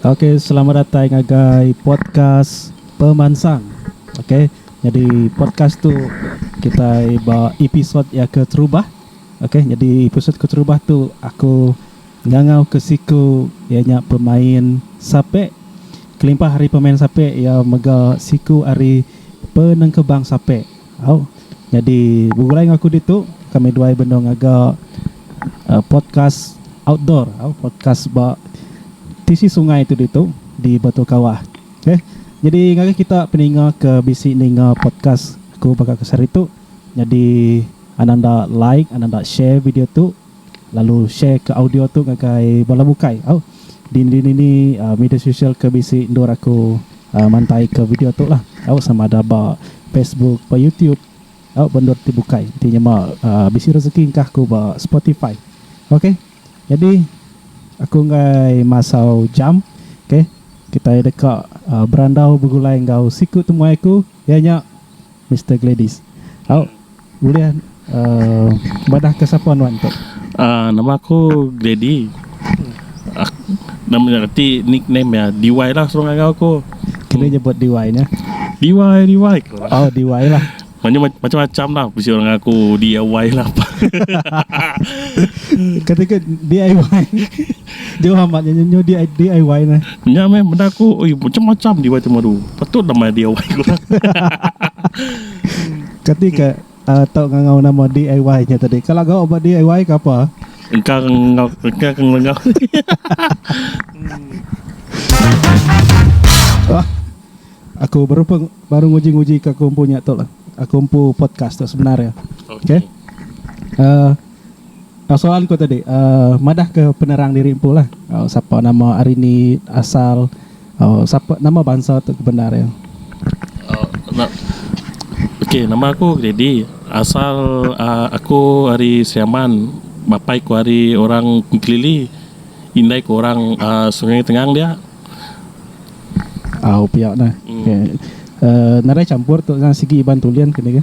Ok selamat datai ngagai podcast pemansang ok nyadi podcast tu kitai ba episode iya keterubah ok nyadi episode keterubah tu aku ngangau ke siku iya nya pemain sape kelimpah ari pemain sape iya mega siku ari penengkebang sape. Au. Nyadi begulai enggau aku ditu, kami duai benung ngaga podcast outdoor au podcast ba tisi sungai tu ditu di Batu Kawah. Okey. Nyadi ngagai kita peninga ke bisi ninga podcast aku baka aku sehari tu, nyadi anang enda like, anang enda share video tu, Lalu share ke audio tu ngagai bala bukai. Au. Dindiri nini media sosial ke bisi endur aku mantai ke video tu lah. Au sama ada ba Facebook, ba YouTube. Au ba endur ti bukai. Ti nyema bisi rezeki engkah aku ba Spotify. Ok. Nyadi aku enggai masau jam. Ok. Kitai deka berandau begulai enggau siku temuai aku. Iya nya, Mister Gladys. Au, ulih madahka sapa nuan tu? Aaa, nama aku Glady. Nama nya ti nickname iya. DY lah suruh ngagau aku. Kena nyebut DY nya. DY, DY ku lah. Oh, DY lah. Nama nya macam-macam lah. Bisi orang ngaku DIY lah. Kati ke DIY? Jauh amat nya nyu DIY neh. Nya meh benda aku oi macam macam DIY tu madu. Patut lah mai DIY ku orang. Kati ka uh, tau ngangau nama DIY nya tadi. Kalau gau ba DIY ke apa? Engkang ngau engkang ngau. Wah. Aku baru peng, baru nguji-nguji ke aku empu nya tu lah. Aku empu podcast tu sebenar ya. Okey. Okay. Uh, Soalan ku tadi madah ke penerang diri empu lah sapa nama ari ni asal sapa nama bansa tu ke bendar iya. Ok nama aku Gredi asal aku ari Siaman bapai ku ari orang Kelili indai ku orang Sungai Tengang dia. Au pia nah nadai campur tu sigi Iban Tulen kini ke.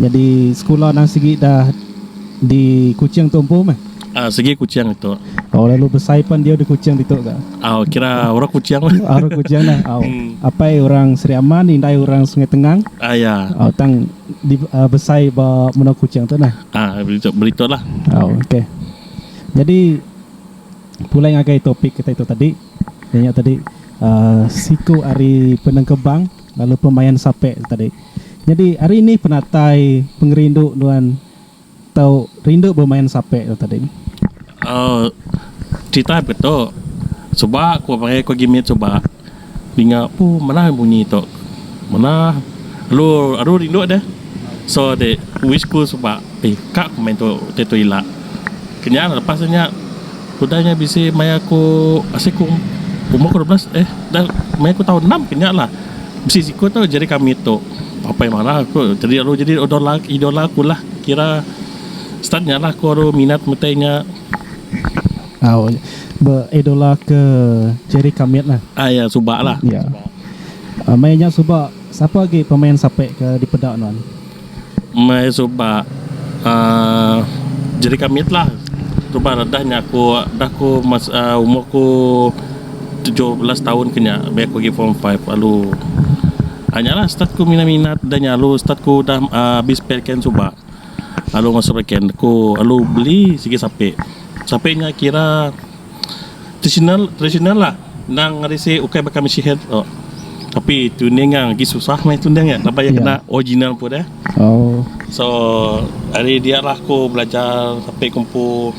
Nyadi sekula nang sigi da di Kuching tu empu meh. Uhh sigi Kuching ditu. Au lalu besai pan diau di Kuching ditu ga. Au kira orang Kuching lah. Au orang Kuching lah. Au apai orang Sri Aman indai orang Sungai Tengang. Uhh ya. Au tang di uhh besai ba menua Kuching tu nah. Uhh beritu beritu lah. Au ok. Nyadi pulai ngagai topik kita itu tadi. Inya tadi uhh siku ari penengkebang. Lalu pemain sapek tu tadi. Nyadi ari nih penatai pengerindu nuan tau rindu bemain sapek tu tadi? Aaa cerita baka tu suba ku aba meh ku agi mit suba dinga pu manah bunyi tu manah alu aru rindu deh so ade wish ku suba. Ih ka ku main tu utai tu ila. Kenyah lah lepas nya udah nya bisi maya aku asai ku umur ku dua belas eh dah maya ku taun enam kenyah lah bisi siku tu Jerry Kamit tu apai marah aku jadi lalu jadi idola idola aku lah kira start nya lah aku ru minat utai nya. Au be idola ke Jerry Kamit lah. Ah ya suba lah. Ya. Maya nya suba sapa agi pemain sape ke dipeda nuan? Meh suba uhh jadi kami lah suba redah nya aku dah ku umur ku tujuh belas taun ke nya abih aku agi form five lalu uhh nya lah start ku minat minat dah nya lalu start ku udah abih spare can suba lalu meh spare can ku lalu beli sigi sape, sape nya kira. Tradisional tradisional lah endang ari si ukai baka mesihat tu tapi tuning iya agi susah meh tuning iya laban iya kena original pun dah so ari dia lah aku belajar sape ku empu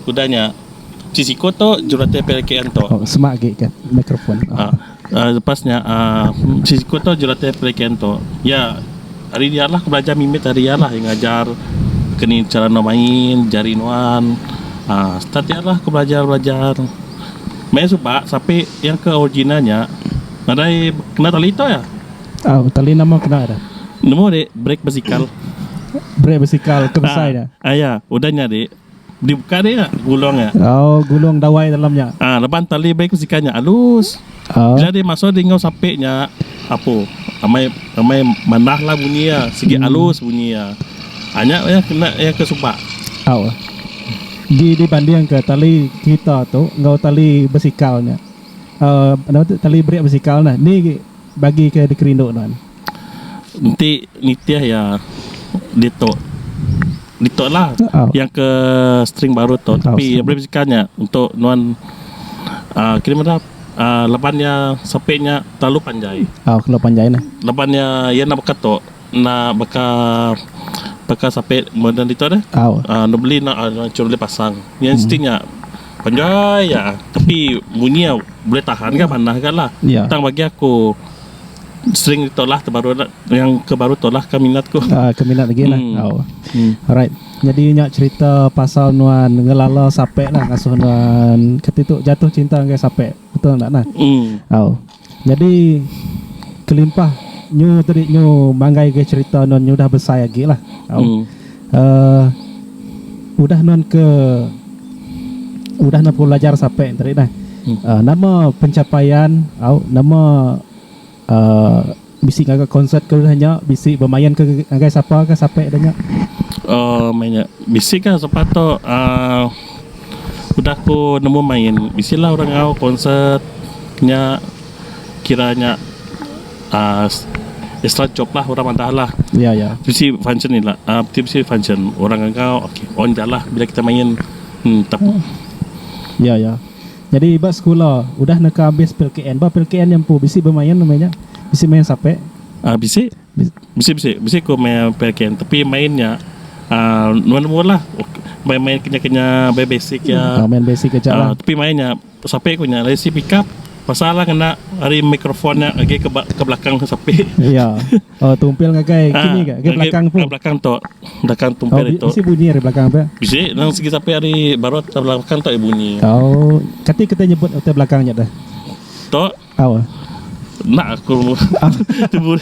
udah nya ti siko tu jurulatih pilihan tu. Lepas nya siku tu jurulatih pelikin tu iya ari iya lah aku belajar mimit ari iya lah iya ngajar aku nih chara enda main jari nuan start iya lah aku belajar belajar main suba sape yang ke original nya nadai kena tali tu iya nemu ade brake basikal iya udah nya ade. Di buka dia gulung nya. Oh, gulung dawai dalam nya. Ah, ha, leban tali baik sikan nya alus. Oh. Bila dia masuk di ngau sapi nya, apo? Amai amai manah lah bunyi ya, sigi hmm. alus bunyi ya. Hanya ah, ya kena ya ke subak. Oh. Di di banding ke tali kita tu ngau tali besikal nya. Uh, tali berik besikal nah. Ni bagi ke dikerindu tuan. Enti nitih iya ditu ditu lah yang ke string baru tu tapi iya bulih besikal nya untuk nuan um kini meda um laban iya sape nya terlalu panjai laban iya iya enda baka tu enda baka baka sape moden ditu deh um dulu beli enda cuma beli pasang iya string nya panjai iya tapi bunyi iya bulih tahan ga manah ga lah tang bagi aku. sering ditolak tu baru ada yang ke baru tolak ke minat ku. Uh, ke minat lagi lah. Hmm. Oh. Hmm. Alright. Jadi nya cerita pasal nuan ngelala sape lah ngasuh nuan ketitu jatuh cinta dengan sape. Betul tak nah? Hmm. Oh. Jadi kelimpah nyu tadi nyu manggai ke cerita nuan nyu dah besai lagi lah. Oh. Hmm. uhh udah nuan ke udah nuan pelajar sape tadi nah uhh nama pencapaian au nama uhh bisi ngaga konsert ke udah nya bisi bemain ke ngagai sapa ka sape da nya. Uhh meh nya bisi ka sapa tu uhh udah ku nemu main bisi la orang au konsert nya. kira nya um extra job lah orang madah lah bisi function ila ti bisi function orang enggau on ja lah bila kita main um bisi bisi bisi bisi ku main PLKN tapi main nya um number number lah main main kinya kinya main basic aja tapi main nya Sape ku nya lesi pickup pasal lah ngena ari microphone nya agi ke ke belakang tu sape. Iya. Oh tumpil ngagai kini ga ngagai belakang tu. Belakang tu. Belakang tumpil itu. Bisi bunyi ari belakang tu. Bisi nang segi sape ari barot belakang tu bunyi. Oh kati kita nyebut utai belakang nya dah. Tu. Awa. Enda aku tebu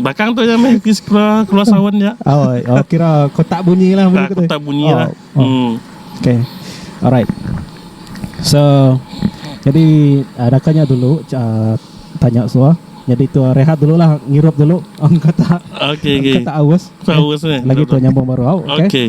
bakang tu nya meh keluar keluar sawan nya. Oh, oh kira kotak bunyi lah bunyi kotak bunyi oh, lah. Oh. Hmm. Okay. Alright. So jadi uh, dakanya dulu uh, tanya suah. Jadi tu uh, rehat dulu lah ngirup dulu ang kata. Okay, okay. Kata awas. Awas eh. Lagi tu nyambung baru. Okay. okay.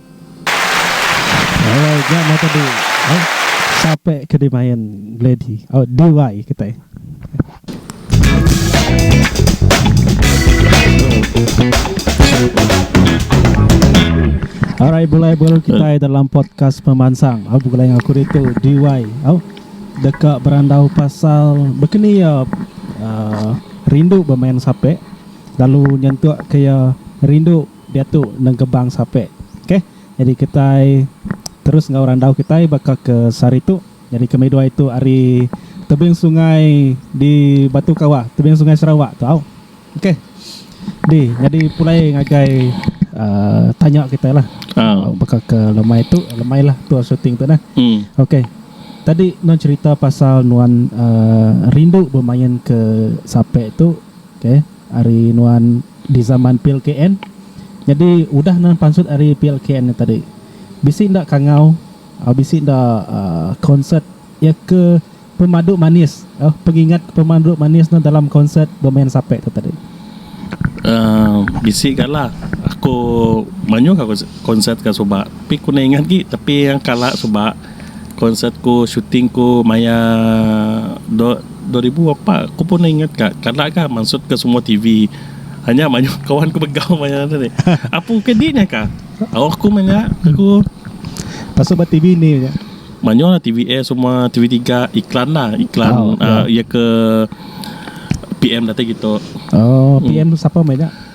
Alright ga mata di eh sape ke di main gladi oh DY kitai. Alright bulai baru kitai dalam podcast pemansang au begulai enggau aku ditu DY au deka berandau pasal bekeni ia uh, rindu bemain sape lalu nyentuk ke ia rindu Diatu Nengkebang Sapek. Okay. Nyadi kitai terus enggau randau kitai baka ke sehari tu. Nyadi ke meduai tu ari tebing sungai di Batu Kawah, tebing sungai Sarawak tu au. Okay. Di nyadi pulai ngagai uhh tanya kitai lah. Uhh baka ke lemai tu, lemai lah tu shooting tu nah. Okay. Tadi nuan cherita pasal nuan uhh rindu bemain ke sapek tu. Okay. Ari nuan di zaman plkn nyadi udah nuan pansut ari plkn nya tadi bisi enda kangau au bisi enda konsert iya ke pemadu manis au pengingat ke pemadu manis nuan dalam konsert bemain sape tu tadi. Uhh bisi kala aku mayuh konsert ka suba tapi ku ingat agi tapi kala suba. konsert ku shooting ku maya dua ribu apat ku pun ingat ka kada ka maksud ke semua TV hanya mayuh kawan ku mega maya anu ni apu ke di nya ka au aku manya aku pasal ba TV indi manya mayuh la TV eight semua TV tiga iklan la iklan ia ke PM datai kitu. Oh, PM tu sapa meh nya?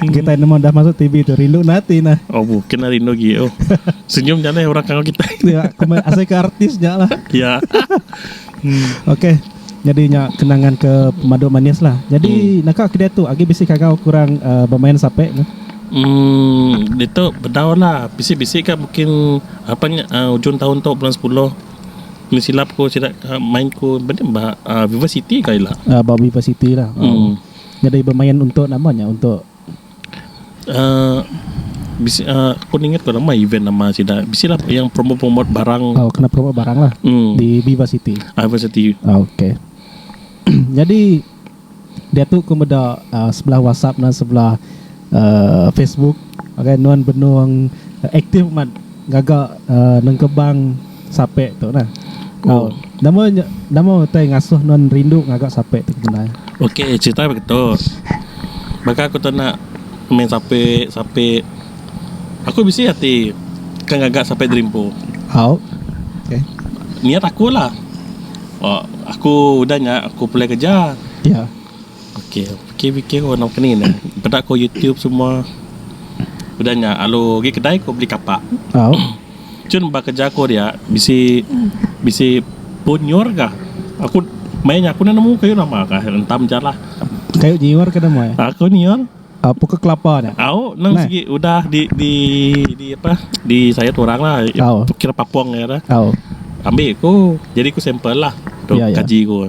Kitai nemu dah masuk TV tu rindu na ati nah. Oh bu, kena rindu gi. Oh. Senyum nya leh orang kangau kita. Ya, kemai asai ke artis nya lah. Ya. Okey. Jadi nya kenangan ke pemadu manis lah. Jadi naka ke diatu agi bisi kangau ke orang uh, bemain sape tu. Hmm, ditu bedau lah. Bisi-bisi ka mungkin apa nya uh, ujung tahun tu bulan 10. Ni silap ko sida ka main ko benda ba uh, Viva City ka ila. Uh, ba Viva City lah. Hmm. Nyadi bemain untuk nama nya untuk uhh bisi uhh aku ningat ko nama event nama sida bisi lah yang promote promote barang oh kena promote barang lah mm di viva city ah viva city oh okay jadi diatu ku meda uhh sebelah whatsapp ne sebelah Facebook okay nuan benung aktif amat gaga nengkebang sape tu nah tau nama nyo nama utai ngasuh nuan rindu ngaga sape tu Kemenai. Ok cerita bagi tu baka aku tu nak main sape sape aku bisi ati ke ngaga sape dreampo Hau ok niat aku lah aku udah nya aku pulai kerja. Ya. Ok bikir bikir ko nama keni ne peda ko youtube semua udah nya lalu gi kedai ko beli kapak cun ba kerja ko dia bisi bisi pun nyiur ga aku main aku enda nemu kayu nama ka hentam ja lah kayu nyiur ke nama pokok kelapa nya au nang sigi udah di di di apa di sayat orang lah kira papong nya re ambi ku jadi ku sample lah kaji ku.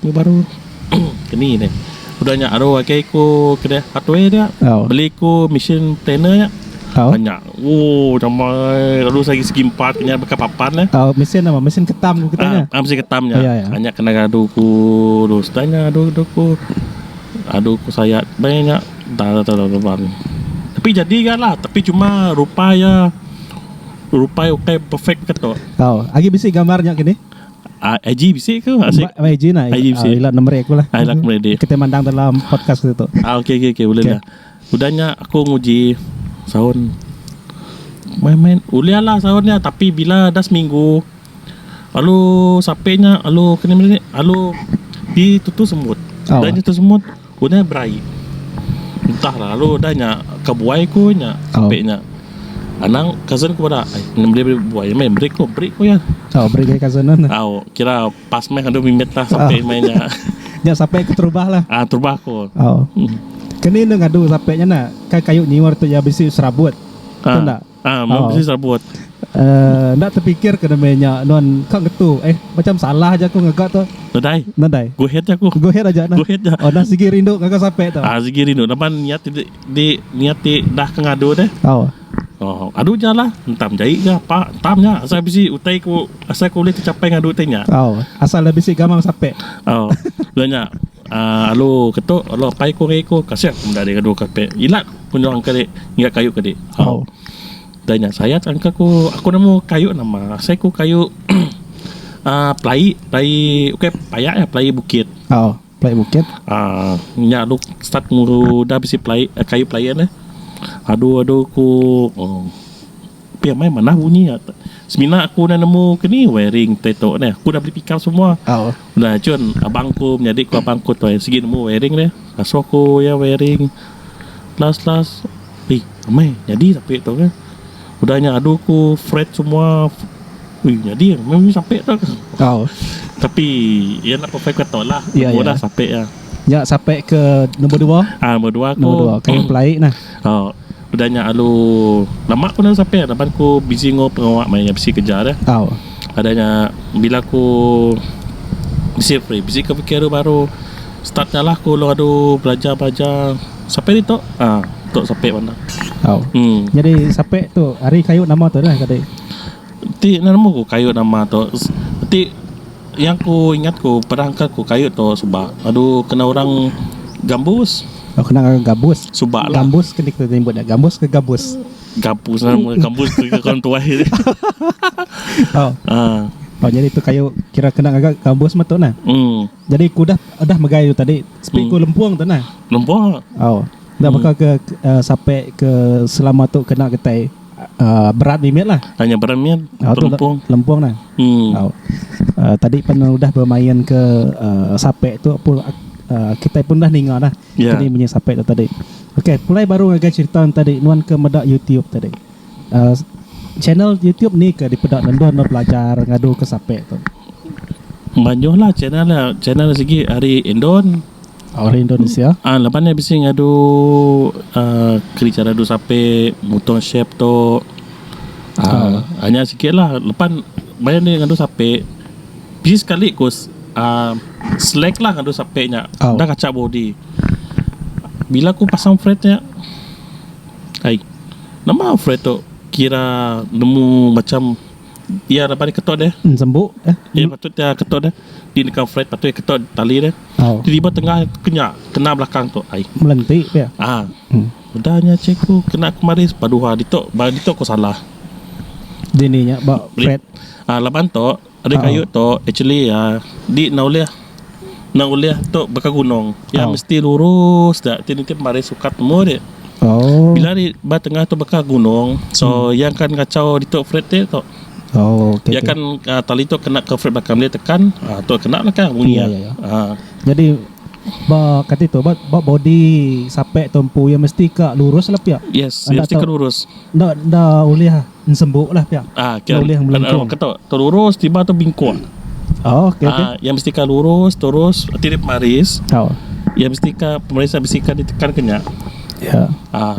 Nya baru keni deh. Udah nya aru agi ku kene hardware dia beli ku mesin planer nya. Nya ooh nama lalu sagi segi empat nya baka papan deh. Mesin apa mesin ketam ku kita nya. Mesin ketam nya. Nya kena ngadu ku sudah nya adu ku adu ku sayat meh nya dah teban. Tapi jadi ga lah tapi cuma rupa iya rupa iya ukai perfect ka tu. Agi bisi gambar nya kini. Ah, IG bisi ke? Asik. Ba- IG nah, IG bisi. ah, ila nomor aku lah. Ah, ila nomor adik. Kita mandang dalam podcast kita tu. Ah, okey okey okey boleh Okey. lah. Udah nya aku nguji sound. Main-main ulih lah sound nya tapi bila dah seminggu lalu sampai nya lalu kena melihat lalu di tutu semut. Oh. Dah nya tu semut Ku nya berai. Entah lalu udah nya ka buai ku nya ape nya. Anang cousin ku bada ai meri buai meh meri ku meri ku iya. Au meri gai cousin nun. Au kira pas meh andu mimit lah sape meh nya. Nya sape ku terubah lah. Ah terubah ku. Au. Keni enda ngadu sape nya na. Ka kayu nyiur tu iya bisi serabut. Tu enda. Ah, meh bisi serabut. Eh, enda tepikir ke demi nya nuan ka ngetu. Eh, macam salah aja aku ngaga tu. Nadai. Nadai. Go ahead aja aku. Go ahead aja nah. Go ahead aja. Oh, nah sigi rindu ngaga sape tu. Ah, sigi rindu laban niat ti di niat ti dah ke ngadu deh. Oh. Oh, adu ja lah. Entam jai ga apa. Entam nya asal bisi utai ku asal ku ulih tecapai ngadu utai nya. Oh, asal dah bisi gamang sape. Oh, dah nya. Alu ke tu alu apai ku ari aku kasih aku meda diadu kapit ila ku nyuang ke dik ngiga kayu ke dik au da nya sayat angka ku aku nemu kayu nama asai ku kayu um pelai pelai ukai paya eh pelai bukit um nya alu start ngulu da bisi pelai kayu pelai en eh adu adu ku um Pia meh manah bunyi iya. Semina aku udah nemu ke ni wiring te tu neh. Aku udah beli pikal semua. Oh. Udah cun abang ku menyadi ku abang ku toi sigi nemu wiring deh. Asuh ku iya wiring. Last last ih meh nyadi sape tu ke. Udah nya adu ku fret semua ih nyadi meh bunyi sape tu ke. Oh. Tapi iya nak perfect ke tu lah. Ya, Nemu ya. dah sape iya. Nya sape ke nombor dua. Ah nombor dua ku. Nombor dua. Kayu pelai nah. Oh. Peda nya alu lama ku enda sapai laban aku busy enggau pengawa maya nya bisi kerja deh. Au. Ada nya bila aku bisi free bisi ke fikir adu baru start nya lah aku ulung adu belajar-belajar sapai ditu ah tu sapai bandar. Au. Hmm. Nyadi sapai tu ari kayu nama tu lah tadi. Ti nemu ku kayu nama tu. Ti Iya ku ingat ku perang ka ku kayu tu suba adu kena orang gambus. Oh kena orang gabus. Suba lah. Gambus ke ni kita nyebut nya. Gambus ke gabus? Gabus lah nama gambus tu ke orang tuai. oh. Ah. Oh jadi tu kayu kira kena ngaga gambus mah tu nah. Hmm. Jadi ku dah dah megai tu tadi sepi ku lempung tu nah. Lempung. Oh. Dah baka ke uh, sampai ke selama tu kena getai. Uh, berat mimit lah. Hanya berat mimit. Uh, lempung. Lempung lah. Hmm. Uh, uh, tadi pun udah bermain ke uh, sapek tu pun uh, kita pun dah ninga dah. Yeah. Tadi punya sapek tu tadi. Okay, pulai baru ngagai cerita tadi. Nuan ke meda YouTube tadi. Uh, channel YouTube ni ke dipeda nendor no pelajar ngadu ke sapek tu. Banyak lah channel lah. Channel segi hari Indon. Orang Indonesia. Ah, laban nya bisi ngadu ah, keri cara du sape mutong shape tu. Ah, hanya sikit lah. Lepan bayar ni ngadu sape. Bisi sekali ku s- ah, slack lah ngadu sape nya. Oh. Dah kacak body. Bila ku pasang fret nya. Ai. Nama fret tu kira nemu macam iya laban keto deh. Sembu eh. Iya patut dia keto deh. di neka flat patui keto tali dia Au. tiba tiba tengah ke nya kena belakang tu ai Melenti pia. ah Hmm. udah nya cikgu kena kemari padu ha ditu ba ditu ko salah Dini nya ba Beli- flat. ah laban tu ada Au. kayu tu actually ah di na ulih na ulih tu baka gunung ya Au. mesti lurus da ti nitih mari sukat nemu dia Oh. bila di ba tengah tu baka gunung so yang kan ngacau ditu flat dia tu Oh, okay, Dia okay. kan uh, tali tu kena ke frame belakang dia tekan, uh, tu kena belakang bunyi. Ya, ya, ya. Uh, Jadi ba kata itu ba, ba body sapek tu empu ya mesti ka lurus lah pia. yes, Anda dia mesti tahu- kena lurus. Nda nda ulih ensembuk lah pia. Ah, Nda kira ulih kan, melengkung. kata tu lurus tiba tu bingkung. Oh, okey okey. Ah, yang mesti ka lurus terus nanti dia pemaris. Oh. Yang mesti ka pemaris yang mesti ka ditekan kena. Ya. Ah,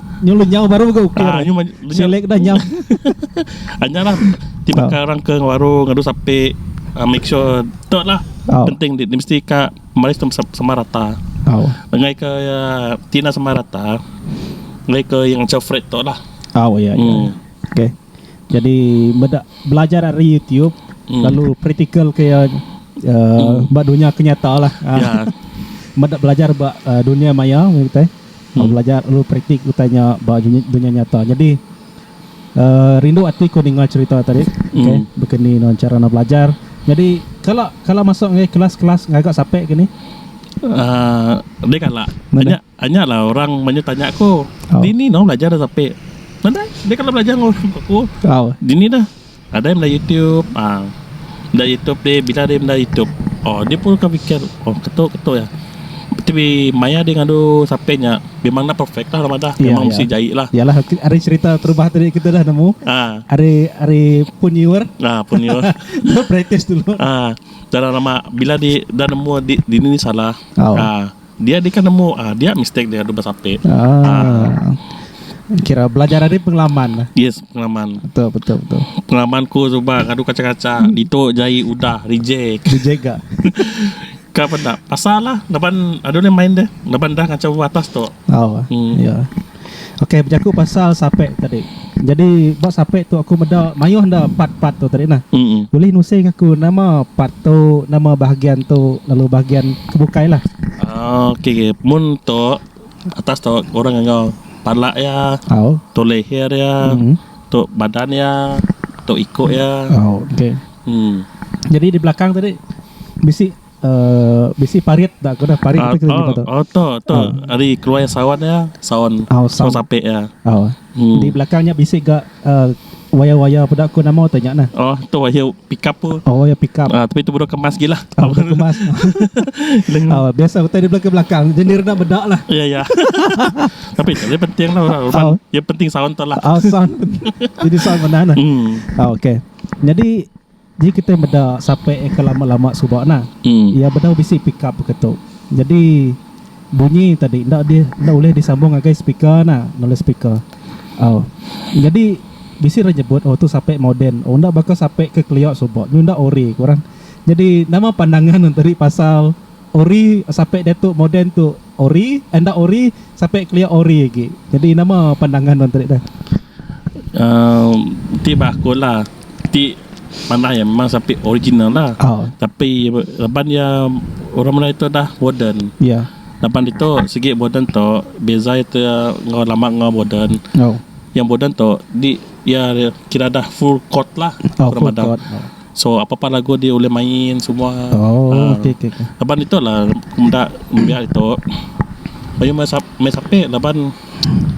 Nyu lu nyau baru mega ukir. Ah, nyu ma- lu nyau. Selek dah nyau. Anya lah ti Ah. bakal orang ke warung ngadu sapi uh, make sure tu lah Ah. penting dia, dia mesti ka malis tu sama, sama rata Au. ngai ke uh, tina sama rata ngai ke yang macam Fred tu lah Au ya. ya. hmm. Okey. Jadi meda belajar dari YouTube Hmm. lalu praktikal ke uh, ba dunia kenyataan lah. Ah. ya Meda belajar ba uh, dunia maya kita. Aku belajar lalu praktik utai nya ba dunya nyata. Nyadi rindu ati ku ninga cherita tadi. Okay. Baka ni nuan chara nuan belajar. Nyadi kala kala masuk ngagai kelas kelas ngaga sape ke ni? Uhh deh kala. Anya anya lah orang banyu tanya aku dini nuan belajar sape. Nadai deh kala belajar ngagai aku. Dini dah. Nadai meda YouTube ah meda YouTube ti bila ari meda YouTube oh dia pun akan fikir oh ketu ketu ya tapi maya dia ngadu sape nya memang enda perfect lah madah memang mesti jai lah Yalah ari serita perubah tadi kita dah nemu ah ari ari pun newer ah pun newer practice dulu ah dalam lama bila di dah nemu dini salah ah Dia deka nemu ah dia mistake dia dulu besape. Ah. Kira belajar ari pengalaman lah. Yes, pengalaman. Betul, betul, betul. Pengalaman ku suba ngadu kaca-kaca ditu jai udah reject. Reject ga. Ka peda pasal lah laban adu ulih main deh laban dah ngaca atas tu. Oh. Hmm. Ya. Ok bejaku pasal sapek tadi jadi ba sapek tu aku meda maioh enda part part tu tadi nah ulih nusing aku nama part tu nama bahagian tu lalu bahagian ke bukai lah. Ah ok mun tu atas tu orang ngau pala iya tu leher iya tu badan iya tu iko iya. Oh ok jadi di belakang tadi bisi Uh, bisi parit tak kena parit uh, tu oh, oh, oh, tu tu uh. hari keluar sawan ya sawan oh, sawan sapi ya oh. hmm. di belakangnya bisi ga uh, waya-waya pada aku nama tu nyakna oh tu waya pick up tu oh waya pick up uh, tapi tu bodoh kemas gila oh, bodoh kemas oh, biasa kita di belakang belakang jenir nak bedak lah ya ya tapi itu penting lah orang rumah oh. yang penting sawan tu lah oh, sound. jadi sawan mana lah. hmm. oh, okay. jadi Ji kitai meda sape ke lama-lama suba nah, iya bedau bisi pickup ke tu. Jadi bunyi tadi enda di enda ulih disambung ngagai speaker nah, enda ulih speaker. Au. Jadi bisi orang nyebut oh tu sape moden. Oh enda baka sape ke kelia suba. Nyu enda ori ku orang. Jadi nama pandangan hang tadi pasal. Ori sape diatu moden tu ori enda ori sape kelia ori agi jadi nama pandangan nuan tadi dah. Um ti bah aku lah ti manah iya memang sape original lah tapi laban iya orang merai tu dah moden laban ditu segi moden tu beza iya tu enggau lama enggau moden yang moden tu di iya kira dah full court lah orang madah. So apa apa lagu dia ulih main semua Oh, Ah. okey okey. okey. Laban itu lah aku menda menda itu. Bayu main sap, main sape laban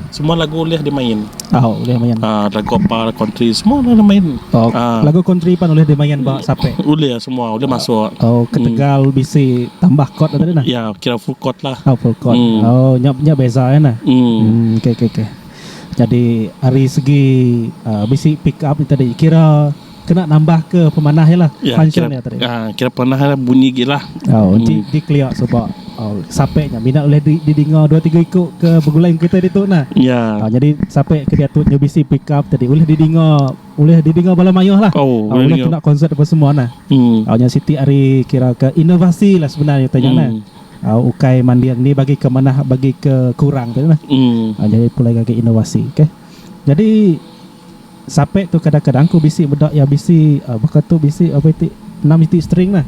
semua lagu ulih dimain. Ah, boleh main. Ah, lagu apa country semua ulih dimain. Oh, Ah. lagu country pan boleh dimain ba sape. Ulih semua ulih masuk. Oh, ketegal bisi tambah chord tadi nah. Ya, kira full court lah. Oh, full chord. Hmm. Oh, nya nya beza ya nah. Hmm. Hmm, okey okey okey. Jadi ari segi uh, bisi pick up ni tadi kira Kena nambah ke pemanah iya lah ya, function iya tadi. Ya, kira pemanah iya bunyi gi lah. Oh, hmm. di, di clear sebab oh, sampai nya minat boleh di, didengar dua tiga iku ke begulai kita di tu nah. Ya. Oh, jadi sampai ke dia tu nyu bisi pick up tadi boleh didengar boleh didengar bala mayuh lah. Oh, oh boleh kena konsert apa semua nah. Hmm. Oh, nya siti hari kira ke inovasi lah sebenarnya tanya hmm. nah uh, ukai mandir ni bagi ke manah bagi ke kurang tu lah. Mm. Uh, jadi pulai lagi inovasi. Okay. Jadi Sapek tu kadang-kadang ku bisi meda iya bisi baka tu bisi apai ti enam iti string lah.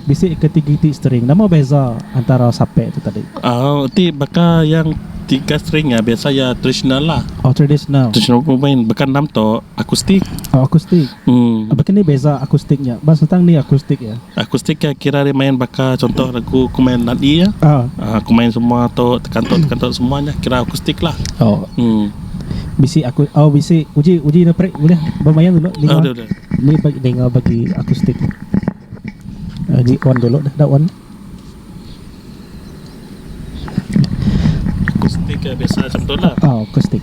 Bisi ke tiga iti string. Nama beza antara sapek tu tadi? Au ti baka yang tiga string iya biasa iya tradisional lah. Oh tradisional. Tradisional ku main baka enam tu akustik. Oh akustik. Aba ke ni beza akustik nya? Ba sentang ni akustik iya? Akustik iya kira ari main baka contoh lagu ku main nadi iya. Ku main semua tu tekan tu tekan tu semua nya kira akustik lah. Oh. bisi aku au bisi uji uji na prik ulih bemain dulu ni Ada dah. ni bagi dengar bagi akustik uh, di on dulu dah dah on Akustik eh, biasa macam tu lah. ah akustik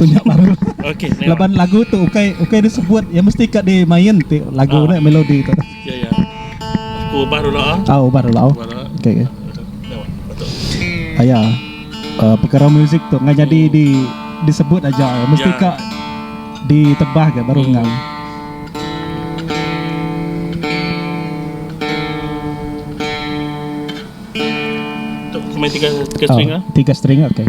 Tu nya baru. Laban lagu tu ukai ukai disebut iya mesti ka dimain ti lagu ne melodi tu. Ya ya. Aku ubah dulu ah. Ah ubah dulu. Okey okey. Aya perkara muzik tu nya jadi di disebut aja mesti ka ditebah ga baru ngau. Tu main tiga string ah. Tiga string okey.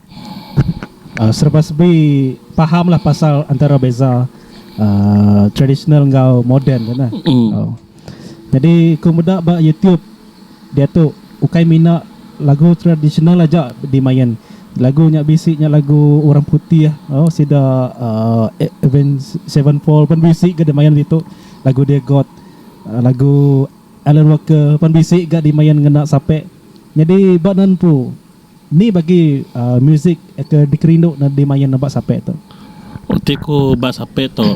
Serba sebi pahamlah pasal antara beza tradisional enggau moden tu nah. Nyadi ku meda ba YouTube diatu ukai mina lagu tradisional aja dimain. Lagu nya bisi nya lagu orang putih sida Avenged Sevenfold pun bisi ga dimain ditu. Lagu dia God lagu Alan Walker pun bisi ga dimain ngena sape. Nyadi ba nan empu. Ni bagi musik ke dikerindu ne dimain ba Sapek tu? Oh ti ku ba Sapek tu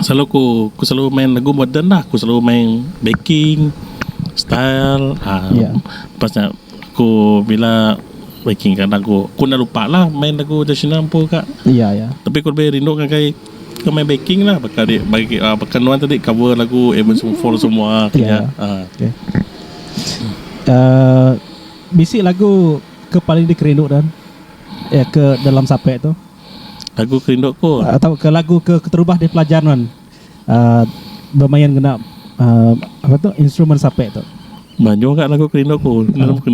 selalu ku ku selalu main lagu moden lah ku selalu main backing style uhh lepas nya ku bila backing ka lagu ku enda lupa lah main lagu tradisional empu ka tapi ku lebih rindu ngagai ke main backing lah baka di baka nuan tadi cover lagu Avenged Sevenfold semua ke nya uhh. Bisi lagu ke paling dikerindu Don iya ke dalam sape tu. Lagu ke rindu ku. Atau ke lagu ke keterubah di pelajar nuan um bemain ngena um apa tu instrumen sape tu. Banyu ga lagu ke rindu ku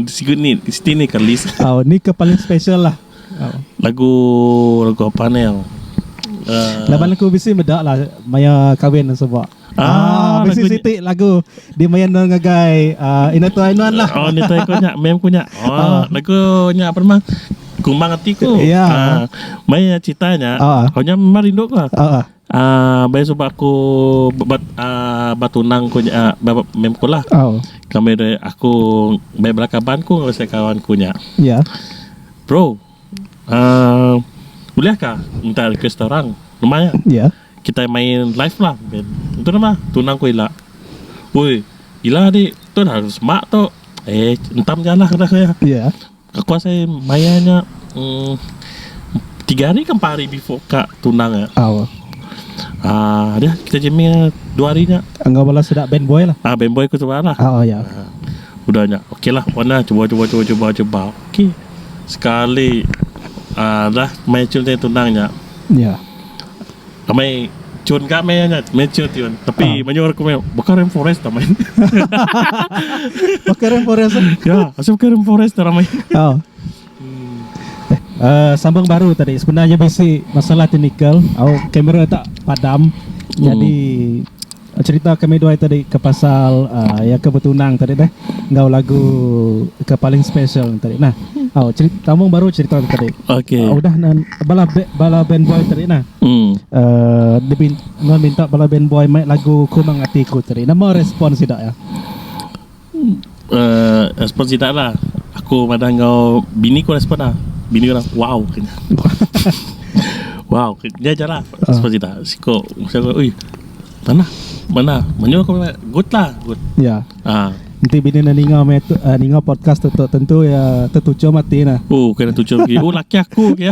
siku ni siti ni ka list. Au ni ke paling special lah. Lagu lagu apa ni au. Laban aku bisi meda lah maya kawin suba. Ah, mesti siti lagu di main dong ngagai uh, Ina Tuai Nuan lah. Oh, ni tuai kunya, mem kunya. Oh, oh. lagu nya apa nama? Kumbang hati ku. Ya. Yeah. Uh, mai ceritanya. Oh. Kau nya memang rindu ku. Oh. Ah, uh, bayi sebab aku bat, uh, batunang ku nya, uh, mem ku lah. Oh. Kami aku bayi belakaban ku ngagai kawan ku nya. Ya. Yeah. Bro, Um ulih ka minta request kita orang nama iya kitai main live lah main tu nama tunang ku ila oi ila di tu lah semak tu eh entam ja lah ngagai iya aku asai maya nya um tiga hari ke empat hari before ka tunang nya um deh kita jamming dua hari nya enggau bala sida band boy lah um band boy ku suba lah udah nya okay lah wan lah cuba cuba cuba cuba cuba okay. sekali dah mei cun ti tunang nya amai cun ka mei nya mei cun ti wan tapi menyuh aku mei baka rain forest amai baka rain forest ya asal baka rain forest dah ramai sambung baru tadi sebenarnya bisi masalah technical au camera tak padam jadi. Cerita kami dua iti tadi ke pasal iya ke betunang tadi deh enggau lagu ke paling special nya tadi nah. Au cerita sambung baru cerita tu tadi. Okay. Uh, udah nan bala be, bala band boy tadi nah. Hmm. Uh, dia bin, minta bala band boy mai lagu Kumang Atiku tadi. Nama respon sida ya? Respon sida nya aku madah enggau bini ku respon ne bini orang wow ku nya wow ku nya nya jelah respon sida siko oi manah manah menyuh ku meh good lah good enti bini ne ninga meh tu ninga podcast tu tentu iya tetuchum ati ne oh kena tuchum agi oh laki aku ku iya.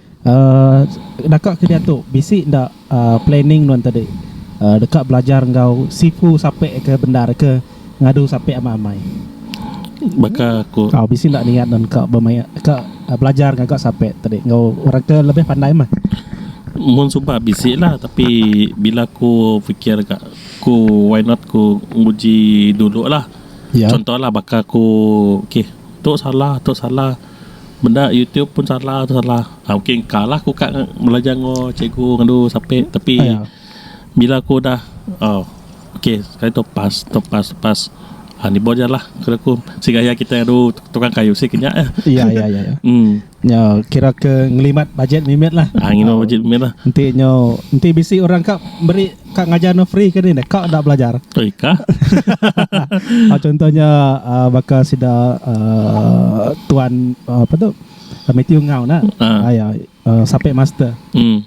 Uhh daka ke diatu bisi enda uhh planning nuan tadi uhh deka belajar enggau sifu sape ke bendar ke ngadu sape amat amai baka ku tau bisi enda niat nuan ka bemaya ka belajar ngaga sape tadi enggau orang ke lebih pandai meh mun suba bisi la tapi bila ku fikir ka ku why not ku nguji dulu la contoh la baka ku okay tu salah tu salah. Meda YouTube pun salah tu salah. Ah okay engkalah aku ka belajar enggau cikgu ngadu sape tapi bila aku udah oh okay sekali tu pas tu pas tu pas ah ni bau jelah kena ku segaya kita ngadu tukang kayu sik nya eh. Iya iya iya. Hmm. Nya kira ke ngelimat bajet mimit lah. Ah ngimat bajet mimit lah. Enti nyo enti bisi orang ka meri Ka ngajar no free ke ni dah ka enda belajar. Oi ka. Ah, contohnya ah, baka sida ah, tuan ah, apa tu? Ah, Matthew Ngau nah. Ah. Ah, ya, ah, sape master. Hmm.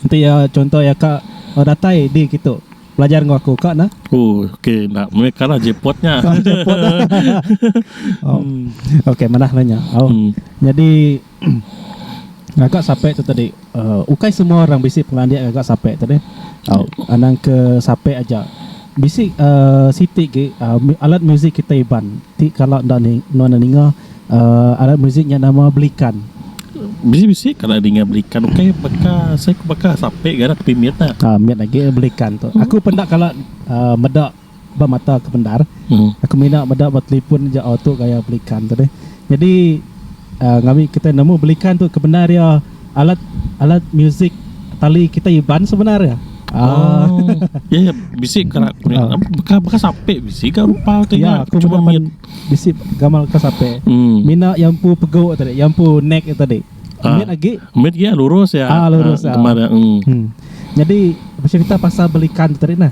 Enti ya contoh ya ka ah, datai di kitu belajar enggau aku ka nah. Oh, okey nak mereka lah jepotnya. Oh. Okey manah nanya. Oh. Hmm. Jadi Ngaga sape tu tadi ukai semua orang bisi pengelandik ngaga sape tu deh tau anang ke sape aja bisi siti gi alat musik kita iban ti kala enda nuan enda ninga alat musik nya nama belikan. Bisi bisi kala ninga belikan ukai baka sape ga rak ke pimit nya. Mit agi belikan tu aku pun enda kala meda. ba mata ke bendar aku mina meda ba telefon aja auto gaya belikan tu deh jadi um ngawi kita nemu belikan tu kebendar iya alat alat music tali kita iban sebendar iya um iya iya bisi kena beka beka sape bisi ga rupa tu iya aku cuma meda pan bisi gamal ka sape mina iya empu pego tadi iya empu neck iya tadi mit agi mit agi lurus iya um kembar iya um jadi becerita pasal belikan tadi nah.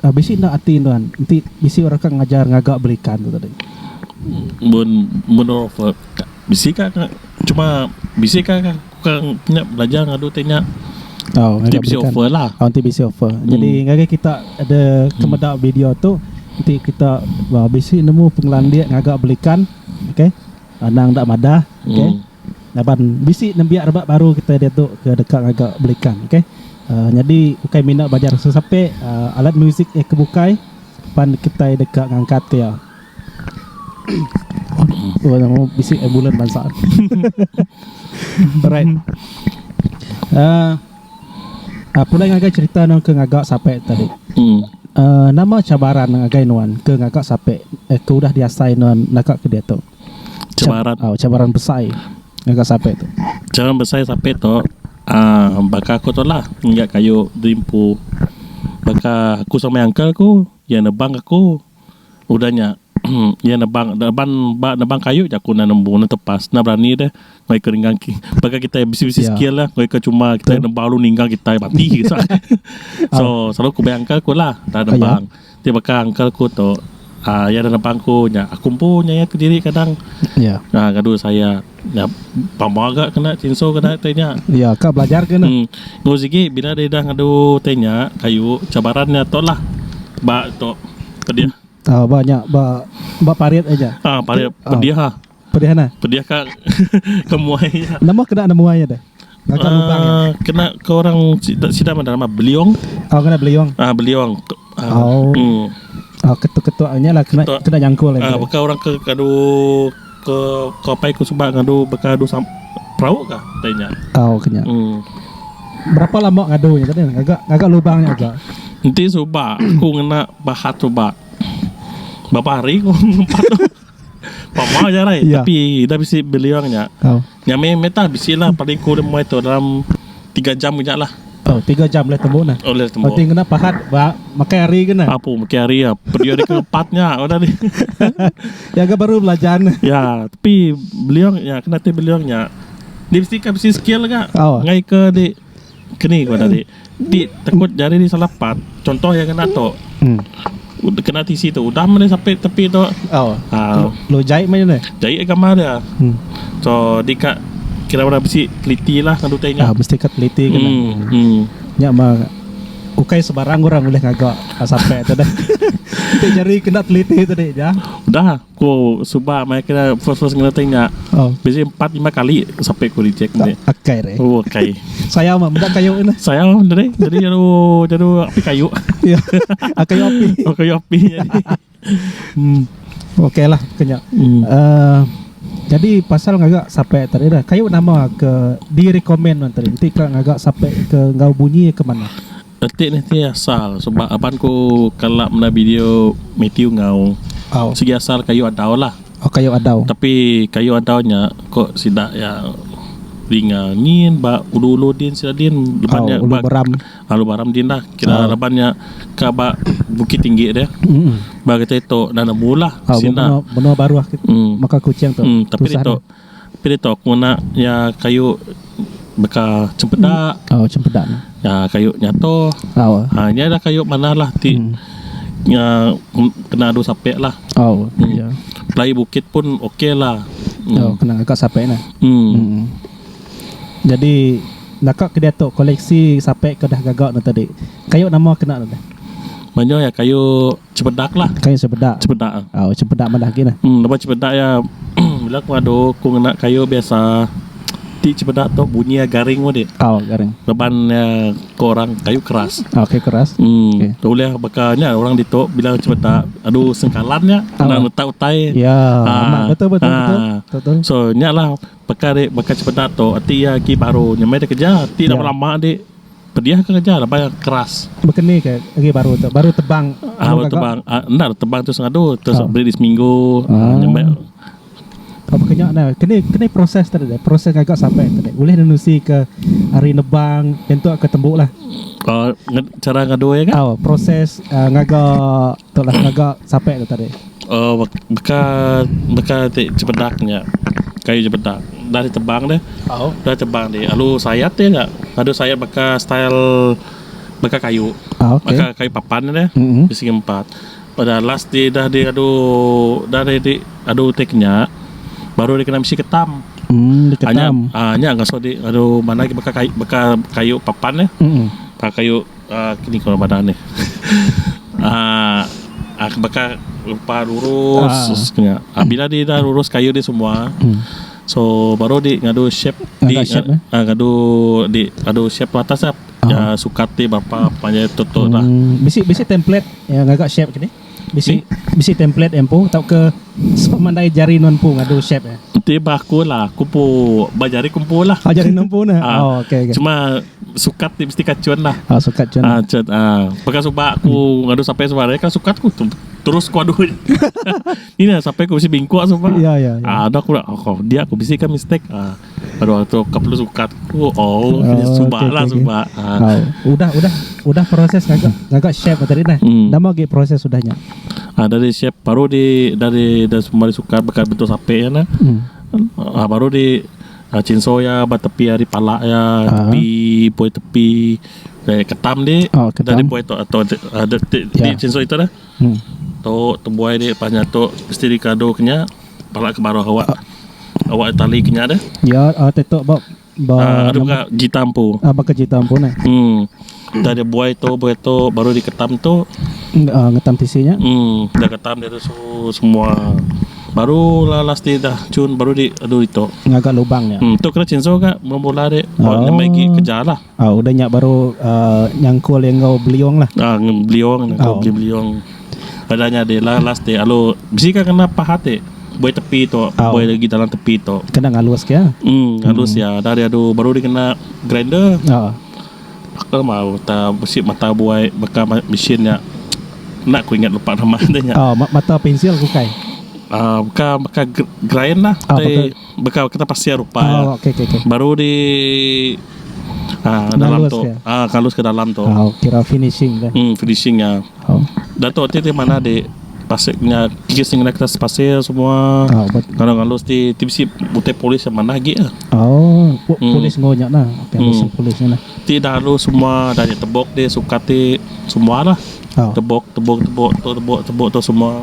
Bisi enda ati nuan enti bisi orang ka ngajar ngaga beli ikan tu tadi. Mun mun orang bisi ka cuma bisi ka nya belajar ngadu ti nya enti bisi offer la. Oh enti bisi offer. Jadi ngagai kita ada ke meda video tu enti kita bisi nemu pengelandik ngaga beli ikan okay anang enda madah okay. Laban bisi nembiak rebak baru kitai diatu ke deka ngaga belikan ok nyadi ukai mina belajar sesape alat muzik iya ke bukai pan kitai deka ngangkat ke iya. Bisi ai bulan bansa. Alright uhh pulai ngagai cherita anu ke ngaga sape tadi uhh nama cabaran ngagai nuan ke ngaga sape ke udah diasai nuan naka ke diatu. Cabaran. Oh, cabaran besai ngaga sapit tu. Cabaran besai sapit tu uh, baka aku tu lah ngaga kayu derimpu. Baka aku sama uncle aku iya nebang aku udah nya iya nebang neban ba nebang kayu je aku enda nembu enda tepas enda berani deh ngoi ke ninggang ki baka kitai bisi-bisi skill lah ngoi ke cuma kitai nebang lalu ninggang kitai mati kitai. so selalu ku uncle aku lah enda nebang. Ti baka uncle aku tu um iya dah nebang aku nya aku empu nyayat kediri kadang Ya. um ngadu saya nya pemua ga kena chinso kena ti nya Ya ka belajar ke ne. Hmm. Enggau sigi bila dia dah ngadu ti nya kayu cabaran nya tu lah ba tu pedih. Ah ba nya ba ba parit aja. Ah parit pedih ah. Pedih nah. Pedih ka ke muai nya. Nama kena nama muai nya deh? Ngancak uh, lubang. Ah, kena ke orang sida sida mana nama Beliong. Oh kena Beliong. Ah uh, Beliong. Uh, oh. Hmm. Oh ketuk-ketuk nya lah kena ketuk. kena nyangkul lah. Ah bukan orang ke kadu ke ke pai ku sebab ngadu bekadu sam perahu kah tanya. Oh kena. Hmm. Berapa lama ngadu nya tadi? Agak agak lubang nya agak. Enti suba aku ngena bahat suba. Bapa hari aku Pama aja alai Ya. tapi ida bisi beliung nya. Tau. Nya meh meh tah bisi lah paling ku dem mai tu dalam 3 jam nya lah. Tau 3 jam leh tembu nah. Oleh tembu. Berarti ngena pahat ba makai hari kena. Apu meki hari ya. Pediu hari keempat nya udah ni. Ya ga baru belajar nah. ya, tapi beliung nya kena ti beliung nya. Dia bisi ka bisi skill ga. Au. Ngai ke di Keni ku anak ti. Ti tekut jari di salah part. Contoh iya ngena tu. Udah kena tisi tu. Udah meh sapit tepi tu. Oh. Ha. Lu jai meh ni. Jai gambar dia. Hmm. So di ka kira orang bisi teliti lah ngalu utai nya. Ah mesti ka teliti kena. Hmm. hmm. Nya mah ukai sebarang orang ulih ngaga sampai tu deh. Ti jari kena teliti tadi ja. Udah. Ku suba maya kira first first ngena tanya Oh. bisi empat lima kali sampai ku reject ni. Akai re. Oh kai. Saya mah meda kayu ni. Saya dari dari jadu jadu api kayu. Ya. Akai api. Oh kayu api jadi. Hmm. Okey lah kenya. Hmm. Uh, jadi pasal ngaga sampai tadi dah. Kayu nama ke di recommend man tadi. Enti ka ngaga sampai ke enggau bunyi ke mana? Enti ne ti asal sebab aban ku kala menda video Mathew enggau sigi asal kayu adau lah tapi kayu adau nya ko sida iya dinga nyin ba ulu-ulu din sida din laban nya ulu baram din lah kira laban nya ka ba bukit tinggi dia ba kitai tu nanda mula sida tapi ditu Pilih tau aku ngena iya kayu baka cempeda aaa kayu nyato aaa nya ida kayu manah lah ti iya kena adu sape lah pelai bukit pun ok lah em. Banyak iya kayu. Cepedak lah. Kayu cepedak. Cepedak. Oh, cepedak madah gin. Hmm, lepas cepedak ya bila aku ngadu aku ngena kayu biasa ti cepedak tu bunyi ya garing mudi. Oh, garing. Leban ya ke orang kayu keras. Oh, kayu keras. Hmm, okay. tu boleh bakanya orang ditu bila cepedak adu sengkalan ya kena oh. letak utai. Ya, ha. amat betul betul ha. betul. betul. So, nyalah bakal bakal cepedak tu ati ya ki baru nyemai dia kerja. Ti ya. lama-lama dik. Pediah ke kereja raban keras. Bekeni ke agi baru tu baru tebang anu gaga. Tebang enda tebang tu sengadu terus beri di seminggu nyambai. Tau bekenya ne keni keni proses tadi deh proses gaga sape tadi ulih nenusi ke ari nebang nyentuk ke tembu lah. Cara ngadoi ga. Tau proses ngaga. Tu lah ngaga sape tu tadi. Oh beka beka ti jebedak nya kayu jebedak dah di tebang deh dah di tebang di alu sayat dia nya adu sayat baka style baka kayu baka kayu papan deh di segi empat peda last di dah di adu dah di di adu ti kinya baru dikena misi ketam nya ngasoh di adu mandai baka kayu papan deh baka kayu. Kini keluar badan nih. Aaa baka rupa lurus nya. Bila di dah lurus keyuh di semua so baru di ngadu shape di aaa ngadu di ngadu shape atas nya sukat ti berapa panjai tu tu lah. Bisi bisi template ngaga shape tu nih. Bisi bisi template ya empu tauka sepemandai jari nuan empu ngadu shape ya. Enti ba aku lah aku empu ba jari ku empu lah. Oh jari nuan empu nah. Ah. Oh okey okey. Cuma sukat ti mesti kacun lah. Oh sukat cun. Ah cun ah. Baka suba aku hmm. ngadu sapai suba hari kan sukat ku tu terus ku adu. Ina sapai ku bisi bingkuk suba. Ya ya. ya. Ah ada aku lah. Oh dia aku bisi ka mistake. Ah. Aduh tu kau perlu sukat aku. Oh, oh suba okay, lah okay, suba. Okay. Ha. Uh, udah udah udah proses agak agak shape tadi nah. Hmm. Nama lagi proses sudahnya. Ah uh, dari shape baru di dari dari semua sukat bekas bentuk sape ya nah. Hmm. Uh, baru di uh, cinso ya ba tepi hari pala ya uh. tepi poi tepi dari ketam di oh, ketam. dari poi tu atau ada di, di, ya. di cinso itu dah. Tu tebuai dia lepas nyatu mesti di kado ke nya pala ke baruh awak awak tali ke nya deh adu ga jita empu um dah dia buai tu buai tu baru di ketam tu um dah ketam dia tu suhu semua baru la last di dah cun baru di adu ditu um tu kena chinso ga bala bala ri ba nyamai agi kerja la. Ah udah nya baru ah nyangkul iya enggau beliung lah. Ah beliung nyangkul beli beliung. Udah nya deh lah last deh alu bisi ka kena paha ti buai tepi tu buai lagi dalam tepi tu. Kena ngalus ke ya. Um ngalus ya dah dia adu baru dikena grinder. Ah. Aku mau ta besi mata buai baka mesin nya enda ku ingat lupa nama dia nya. Ah mata pensil bukai. Ah bukan bukan grind lah. Ah bukan. baka kita pasir rupa iya Oh, okey, okey, okey. baru di ah, dalam Ngalus tu dia. ah kalus ke dalam tu Oh, kira finishing dah. hmm finishing nya Oh. Dato ti ti mana di pasir nya kis ngena kertas pasir semua Oh, bet. kalau ngalus ti ti bisi utai polis yang mana agi ah. Oh, pu- Hmm. polis ngonya nah. Okey, Hmm. hmm. polis nah. Ti dah lalu semua dah di tebok di sukat ti semua lah. Oh. Tebok tebok tebok tu tebok tebok tu semua.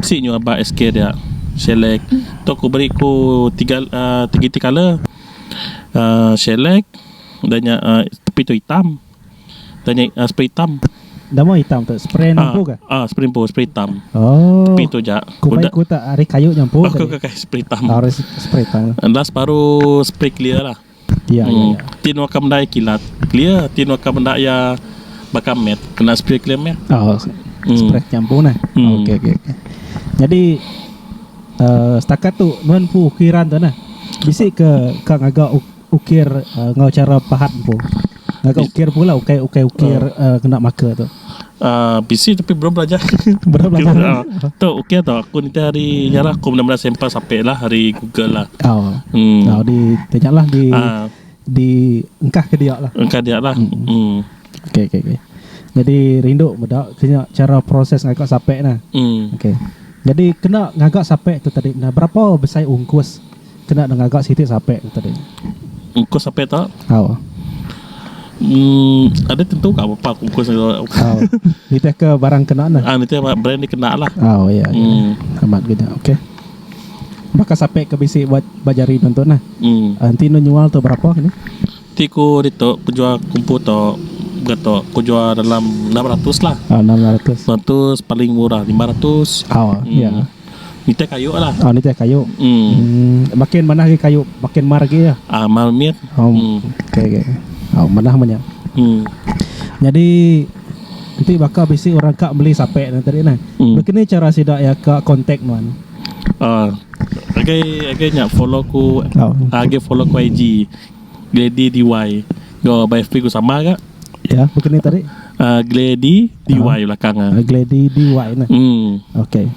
Bisi nyu aba SK dia select tu ku beri ku tiga tiga iti colour um select da nya um tepi tu itam da nya spray itam. Nama itam tu spray nyapu ka? Um spray nyapu spray itam oh tepi tu ja ku bai ku ta ari kayu nyapu tadi spray itam last baru spray clear lah. Ti nuaka meda iya kilat clear ti nuaka meda iya baka mat kena spray clear mat. Oh spray champu neh ok ok nyadi setakat tu nuan empu ukiran tu neh bisi ke ka ngaga ukir enggau chara pahat empu. Agak ukir pun lah Ukai ukai ukir uh. Uh, Kena marker tu uh, Bisi tapi belum belajar Belum belajar tu, uh, tu ukir tu Aku nanti hari Nyarah aku benda-benda sampel Sampai lah hari Google lah Oh, hmm. oh di Tanya lah di uh, Di Engkah ke dia lah Engkah dia lah hmm. Hmm. Okay, okay, okay. Jadi rindu bedak kena cara proses ngagak sapek nah. Hmm. Okay. Jadi kena ngagak sapek tu tadi nah berapa besai ungkus Kena deh ngaga siti sape ke tadi. Ungkus sape tu. Au. Um, ada tentu ka apa ungkus tu. Au. Nitih ke barang kena nah. Ah, nitih brand ni kena lah. Au, ya. ya. Hmm. Amat gede. Okey. Baka sape ke bisi buat bajari tentu nah. Hmm. Ah, enti nu nyual tu berapa ni? Ti ku ditu ku jual kumpu tu gato ku jual dalam 600 lah. Ah, 600. Lepas tu paling murah 500. Au, ya. Hmm. Nitih kayu lah. Oh nitih kayu. Hmm. hmm makin manah lagi kayu, makin mar lagi ya. Ah, mal mit. Oh. Hmm. Okay, okay. Oh, manah banyak. Hmm. Jadi nanti bakal bisi orang kak beli sape nanti tadi nah. Hmm. Begini cara sida ya kak kontak nuan. Ah. Uh, okay, okay nyak follow ku. Oh. Agi ah, follow ku IG. Glady DY. Go by FB ku sama kak. Ya, bukan ni tadi. Uh, gladi DY uh, ah. belakang ah. Uh, gladi DY nah. Hmm. Okey.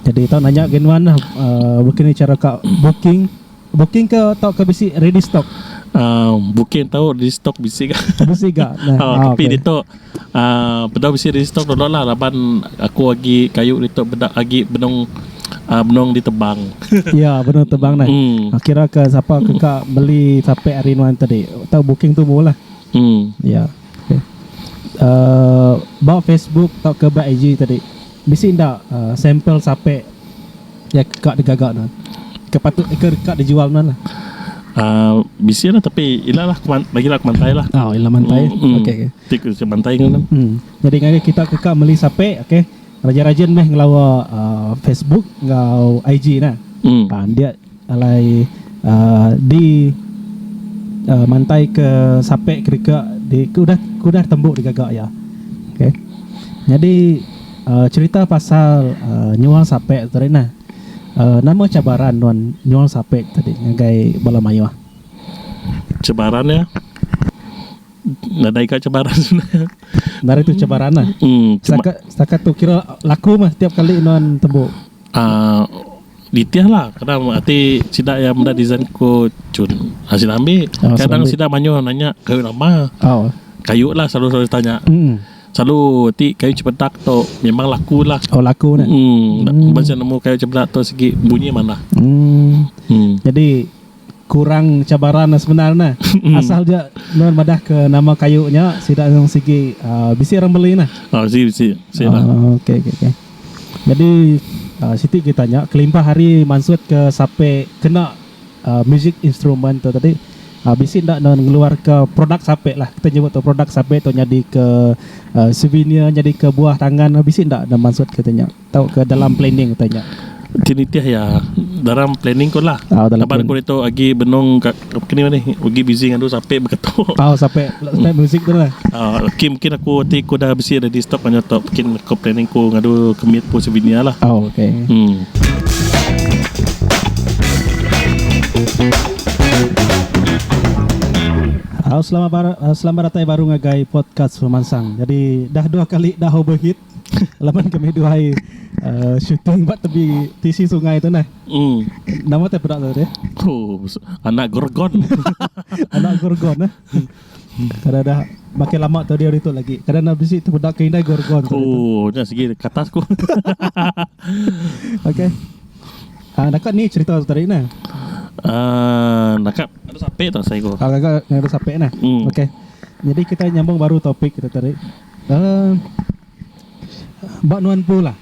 Jadi tau nanya gen wan lah uh, bukan ni cara kau booking booking ke tau ke bisi ready stock. Uh, booking tau ready stock bisi ke? Bisi ke? Nah. oh, tapi okay. ditu uh, bedau bisi ready stock dulu lah laban aku lagi kayu ditu bedak lagi benung Ah benong ditebang. Ya, benung tebang neh. Hmm. Ah, Kira ke sapa ke ka beli sape ari nuan tadi. Tau booking tu mu lah. Hmm. Ya. Okay. Uh, ba Facebook tau ke ba IG tadi. Bisi enda uh, sampel sape ya ke ka digaga nuan. Ke patut ke ka dijual nuan lah. Ah, bisi lah tapi ila lah keman, bagi lah kemantai lah. Oh, ila mantai. Hmm, hmm. Okey. okey. Tik ke mantai kan. Hmm. Jadi ngagai kita ke ka meli sape, okey. Raja rajin meh ngelawa Facebook enggau IG nah. Pandik alai di mantai ke sape kedeka di ke udah ke udah tembu digaga iya. Okay. Nyadi cherita pasal nyual sape tu tadi nah. Nama cabaran nuan nyual sape tadi ngagai bala mayuh? Cabaran iya Nadai ka cabaran. Nadai tu cabaran lah. Hmm, setakat, setakat tu kira laku mah tiap kali nuan tembu. Ah, uh, ditih lah. Kadang ati sida yang menda design ko cun. Ha, sida ambil. Oh, Kadang ambil. sida manyuh nanya kayu lama. Oh. Kayu lah selalu selalu tanya. Hmm. Selalu ti kayu cepedak tu memang laku lah. Oh laku ni. Hmm. hmm. Macam nemu kayu cepedak tu segi bunyi mana. Hmm. hmm. Jadi Kurang cabaran ne sebenar ne asal ja nuan madah ke nama kayu nya sida nyung sigi uhh bisi orang beli ne. Uhh si bisi si nah. Uhh ok ok ok jadi uhh siti kita nya kelimpah ari mansut ke sape kena uhh music instrument tu tadi uhh bisi enda nuan ngeluar ke produk sape lah kita nyebut produk sape tu nyadi ke uhh souvenir nyadi ke buah tangan bisi enda mansut kita nya. tauka dalam planning utai nya. Ti nitih iya dalam planning ko lah. Oh, dalam Laban ko ditu agi benung ka kini mani ugi busy ngadu sape beketu. Oh sape sape muzik tu lah. Ah uh, kim kin aku ti ko dah bisi ready stock kan tu kin ko planning ko ngadu kemit ko sevinia lah. Oh okey. Hmm. Halo selamat bar, eh, selamat datang baru ngagai podcast pemansang. Jadi dah dua kali dah overheat. Laban kami duai uh, syuting ba tebi tisi sungai tu nah. Hmm. Nama teh pedak tadi? Oh, anak gorgon. anak gorgon nah. Kada dah makin lama tadi hari tu lagi. Kada nak bisi tu pedak ke indai gorgon. Oh, dah segi katas ku. Okey. Ah, nak ni cerita tu tadi nah. Uh, ah, nakap ada sape tu saya ku. Ah, ada sape nah. Hmm. Okey. Jadi kita nyambung baru topik kita tadi. Ba nuan empu lah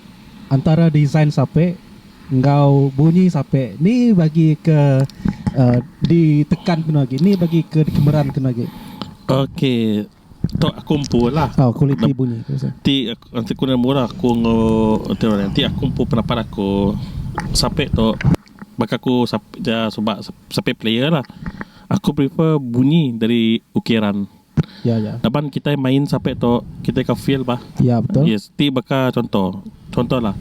antara design sape enggau bunyi sape ni bagi ke di tekan ke agi ni bagi ke di kemeran ke agi. Ok tok aku empu lah kualiti bunyi ti aku nemu murah aku enggau ti aku empu pendapat aku sape tok baka aku sape suba sape player lah aku prefer bunyi dari ukeran. Ya ya. Laban kitai main sape tu kitai ka feel bah. Ya betul. Yes ti baka conto. Conto lah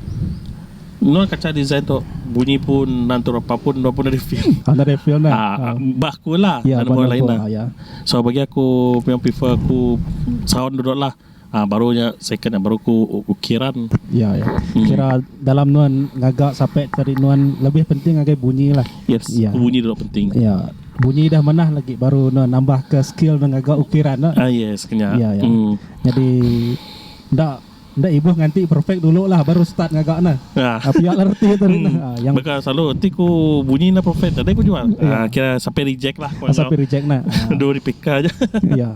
Nun kaca design tu bunyi pun nan tu repa pun nuan pun ada feel. Anda ada feel nah. Ah, ah. bah aku lah. Ya, dan orang lain lah. Ya. So bagi aku memang prefer aku sound dulu lah. Ah baru nya second nya baru ku ukiran. Ya ya. Kira dalam nuan ngaga sape tadi nuan lebih penting ngagai bunyi lah. Yes. Ya. Bunyi dulu penting. Ya. Bunyi dah manah lagi baru nuan nambah ke skill nuan ngaga ukiran tu. Ah yes kenya. Ya ya. Hmm. Jadi enda enda ibuh nganti perfect dulu lah baru start ngaga ne. Ah. Ah, pia lah reti tu. Hmm. Ah, yang Baka selalu ti ku bunyi na perfect tadi ku jual. Ya. Ah kira sape reject lah. Ah, sape reject na. Ah. Dua replika aja. Ya.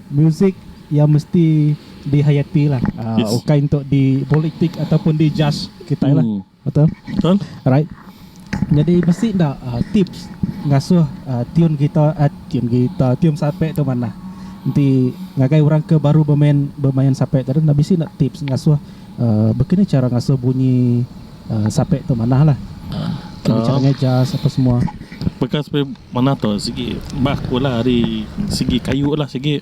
Musik iya mesti dihayati lah yes. ukai untuk di politik ataupun di judge kita lah. Hmm. Betul? Betul. Alright. Jadi mesti ndak uh, ah, tips ngasuh uh, tune gitar, uh, tune gitar, tune sapek tu mana? Nanti ngagai orang ke baru bermain bermain sapek tadi ndak bisi ndak tips ngasuh uh, begini cara ngasuh bunyi Sape tu manah lah kena cara ngeja apa semua. Baka sape manah tu sigi bah aku lah ari sigi kayu lah sigi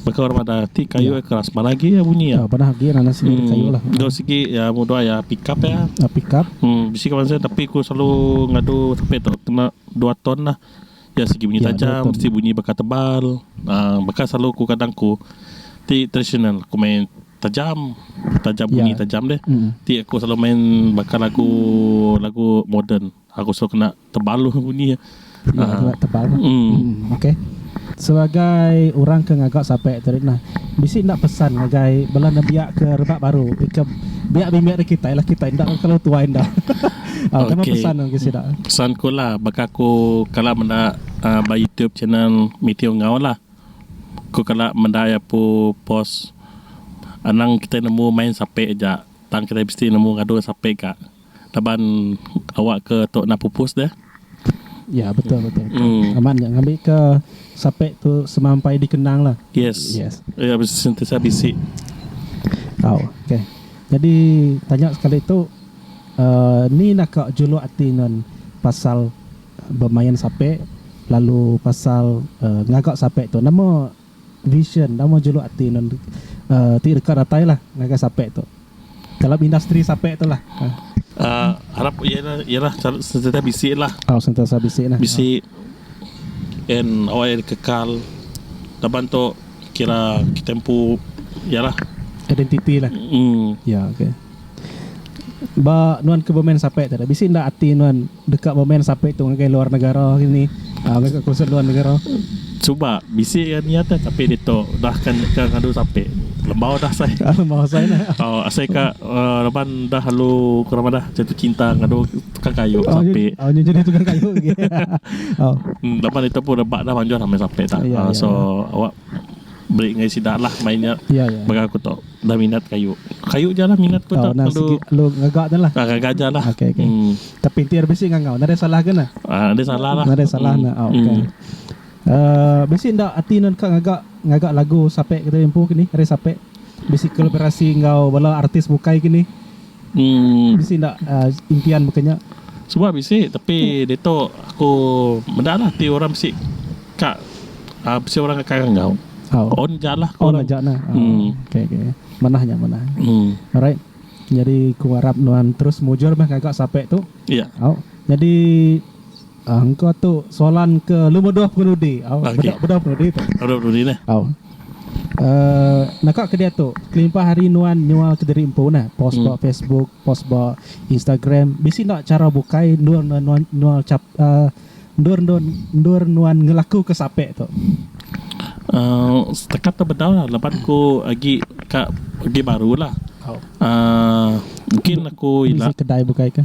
baka orang madah ti kayu iya. keras manah agi iya bunyi iya. Manah agi nanas sigi hmm. kayu lah. Dua sigi ya mudah ya pick up ya. Uh, pick up. Hmm, bisi kawan saya tapi aku selalu ngadu sape tu kena dua ton lah. Ya segi bunyi ya, tajam, mesti bunyi baka tebal. Uh, baka selalu aku kadang aku ti tradisional aku main Tajam, tajam bunyi tajam deh. Ti aku selalu main baka lagu lagu moden. Aku selalu kena tebal lagu bunyi iya. Aa. Tebal. Umm okey. Sebagai orang ke ngaga sape tu ri nah, bisi enda pesan ngagai bala nembiak ke rebak baru ke biak bimbit ari kitai lah kitai enda belalu tuai enda. Aa deka pesan ngagai sida. Pesan ku lah baka aku kala meda aa ba youtube channel Meteor Enggau lah. Ku kala meda iya pu post anang kitai nemu main sape aja tang kitai mesti nemu ngadu sape ga laban awakka tu na pupus deh. Ya betul betul amat nya ngambika sape tu semampai dikenang lah. Yes iya sentiasa bisi. Tau ok nyadi tanya sekali tu uhh ni naka juluk ati nuan pasal. Bemain sape lalu pasal ngaga sape tu nama vision nama juluk ati nun ti deka datai lah ngagai sape tu dalam industri sape tu lah. Arap iyalah sentiasa bisi lah. Oh sentiasa bisi lah. Bisi en awai dikekal laban tu kira kita empu iyalah. Identiti lah. Ya ok. Ba nuan ke bemain sape tu bisi enda ati nuan. Deka bemen sape tu ngagai luar negara ini mega konsert luar negara. Cuba bisi iya nia teh tapi ditu udah ka ka ngadu sape lembau dah sai. Lembau sai dah. Oh asai ka uh, laban dah lalu ke nama dah jatuh cinta ngadu tukang kayu oh, sape. Oh nya jadi tukang kayu lagi. oh. Hmm, laban itu pun rebak dah manjuh ramai sape dah. Ya, uh, ya, so ya. awak beri ngai sida lah mainnya. Ya, ya. Bagi aku tu. Dah minat kayu. Kayu ja lah minat ku dah lalu. Lu ngaga ja lah. Ah ngaga ja lah. Okay, okay. Hmm. Tapi ti ada bisi ngangau. Nadai salah ke nah? Ah, nadai salah lah. Nadai salah hmm. nah. Oh, okay. Hmm. Uh, bisi ndak ati nan ka ngaga ngaga lagu sape kita empu kini. Ada sape bisi kolaborasi enggau bala artis bukai kini. Bisi enda impian baka nya? Suba bisi tapi ditu aku meda lah ti orang bisi ka bisi orang ka karang enggau. On aja lah ku orang. On aja nah. Okay okay. Manah nya manah. Alright. Nyadi ku arap nuan terus mujur meh ngaga sape tu. Au. Nyadi. Engka tu soalan ke lubah dua pengemudi. Au beda beda pengemudi tu. Beda pengemudi neh. Au. Uh, naka ke dia tu kelimpah hari nuan nyual ke diri empu nah post hmm. ba Facebook post ba Instagram bisi ndak cara bukai endur nuan nuan nuan cap uh, endur endur endur nuan ngelaku ke sape tu uh, setakat tu bedau lah lepas ku agi ka agi baru lah oh. uh, mungkin aku ila kedai bukai ke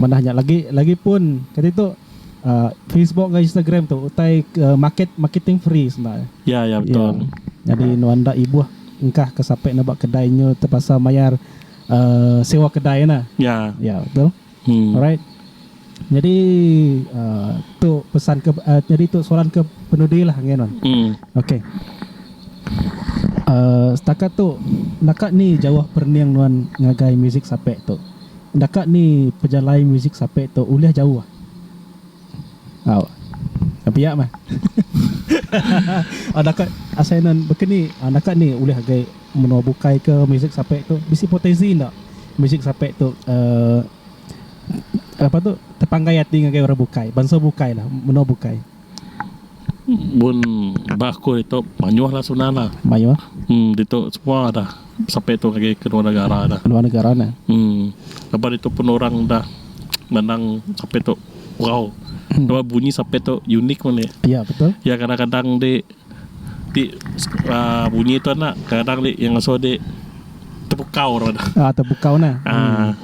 Manah nya lagi, lagipun keditu Facebook enggau Instagram tu utai ke market marketing free senda iya. Ya, ya betul. Nyadi nuan enda ibuh engkah ke sapai neba kedai nyu terpaksa mayar uhh sewa kedai ena. Ya. Ya, betul. Hmm. Alright. Nyadi uhh tu pesan ke uhh nyadi tu soalan ke penudi lah enggai nuan. Hmm. Okay. Uhh setakat tu naka ni jauh perening nuan ngagai muzik sapai tu? Enda ka ni pejalai musik sape tu ulih jauh. Au. Nya pia meh. Enda ka asai enda baka ni enda ka ni ulih agi menua bukai ke musik sape tu bisi potensi enda musik sape tu uhh apa tu tepanggai ati ngagai orang bukai bansa bukai lah menua bukai. mun ba sekul ito mayuh lah senang lah mayuh dito semua dah sapai ito agei ke luar negara dah luar negara dah lepa ito pun orang dah menang sapai ito bau bunyi sapai ito unik meli ya betul ya kadang kadang di Ti bunyi tu anak kadang dik iya ngasuh dik tepukau ra dah. Ah tepukau nah. Ah.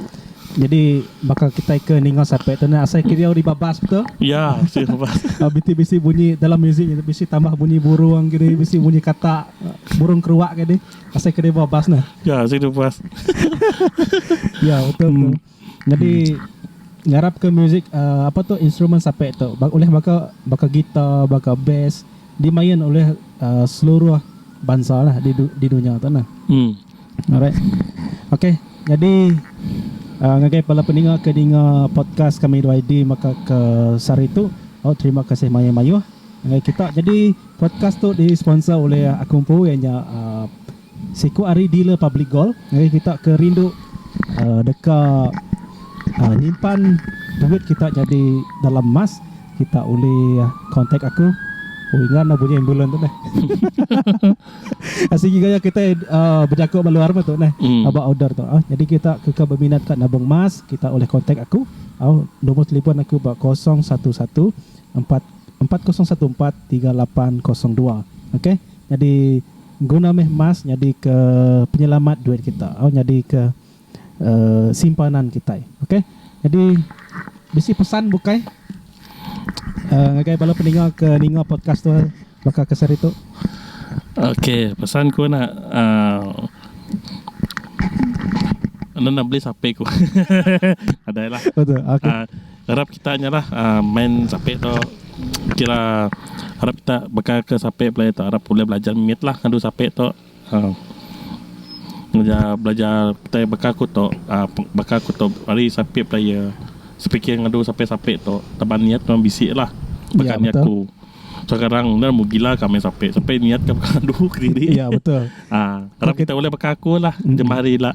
Jadi baka kita ke ninga sape tu nah asai kediau di babas betul. Ya, si babas. Ah biti bisi bunyi dalam muzik nya bisi tambah bunyi burung kidi bisi bunyi kata burung keruak kidi asai kediau babas nah. Ya, asai kediau babas. Ya betul tu. Nyadi ngarapka muzik apa tu instrumen sape tu ulih baka baka guitar baka bass dimain ulih seluruh bansa lah di dunya tu nah. Alright ok nyadi ngagai bala peninga ke dinga podcast kami dua ID maka ke sehari tu terima kasih mayuh mayuh ngagai kita nyadi podcast tu di sponsor ulih aku empu iya nya. Siku ari Dealer Public Gold ngagai kita ke rindu deka nyimpan duit kita nyadi dalam emas, kita ulih kontak aku. Oh ingat enda bunyi ambulans tu neh. Asai agi gaya kita bejaku ba luar meh tu neh ba order tu. Nyadi kita ke ke beminat ka nabung emas kita ulih kontak aku. Nombor telefon aku ba kosong satu satu empat empat kosong satu empat tiga lapan kosong dua. Okay. Nyadi guna meh emas nyadika penyelamat duit kita au nyadika simpanan kitai. Okay. Nyadi bisi pesan bukai ngagai bala peninga ke ninga podcast tu baka ke seharitu? Okay. Pesan ku ena enda beli sape ku. Nadai lah. Arap kita nya lah main sape tu kira arap kita baka ke sape pelajar tu arap ulih belajar mit lah ngadu sape tu ngena belajar tai baka ku tu baka ku tu ari sape pelajar sepikir ngadu sape sape tu taban niat memang bisi lah baka niat ku sekarang enda mu gila ka main sape sape niat ka baka adu kediri arap kita ulih baka ku lah jemah hari ila.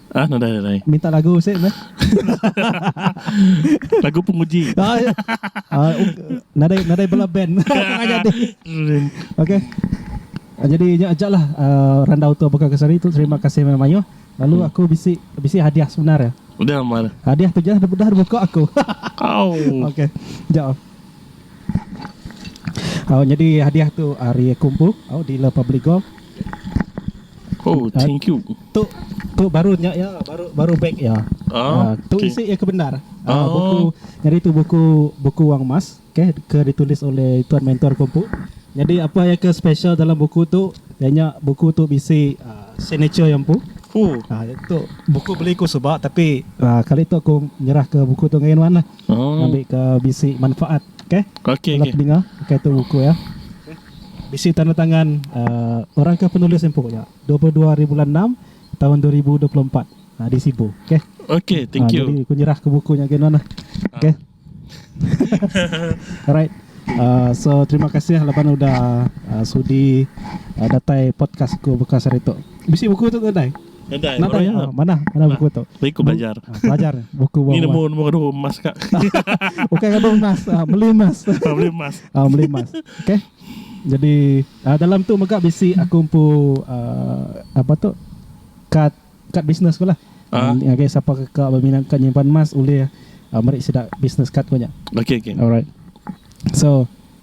Ah no dai dai. Minta lagu sik meh. lagu penguji. Ah, ya. Ah, nadai nadai bela band. Tengah jadi. Okey. Ah, jadi nya aja lah uh, randau tu buka kesari tu terima kasih meh mayuh. Lalu hmm. aku bisi bisi hadiah sebenar ya. Udah mal. Hadiah tu je dah dah buka aku. Au. Okey. Jap. Oh, jadi hadiah tu hari kumpu oh, di La Public Golf. Oh thank you. Tu tu baru nya iya baru baru beg iya. Ah, tu okay. isi iya ke bendar. Ah, ah buku jadi tu buku buku wang emas okay, ke ditulis oleh tuan mentor kompu. Jadi apa yang ke special dalam buku tu? Ianya buku tu bisi uh, signature yang pu. Oh. Ah, itu buku beli ku sebab tapi ah, kali tu aku nyerah ke buku tu ngain wan lah. Ngambika bisi manfaat. Okay. Okay. Bala pedinga. Okay tu buku iya. Bisi tanda tangan uhh orang ke penulis empu nya. Dua puluh dua hari bulan enam tahun dua ribu dua puluh empat uhh di Sibu. Okay. Okay. Thank you. Jadi aku nyerah ke buku nya agi nuan lah. Okay. Alright. Uhh so terima kasih laban udah uhh sudi uhh datai podcast aku bekas hari tu. Bisi buku tu ke ndai? Nadai iya manah manah buku tu. Bagi ku belajar. Belajar buku buah. Ni nemu nemu gaduh emas ka. Bukan gaduh emas, meli emas. Meli emas. Ah meli emas. Okey. Jadi dalam tu mega bisi aku empu apa tu kad kad bisnes ku lah. Ngagai sapa ka beminat ka nyimpan emas ulih meri sida bisnes kad ku nya. Okey okey. Alright. So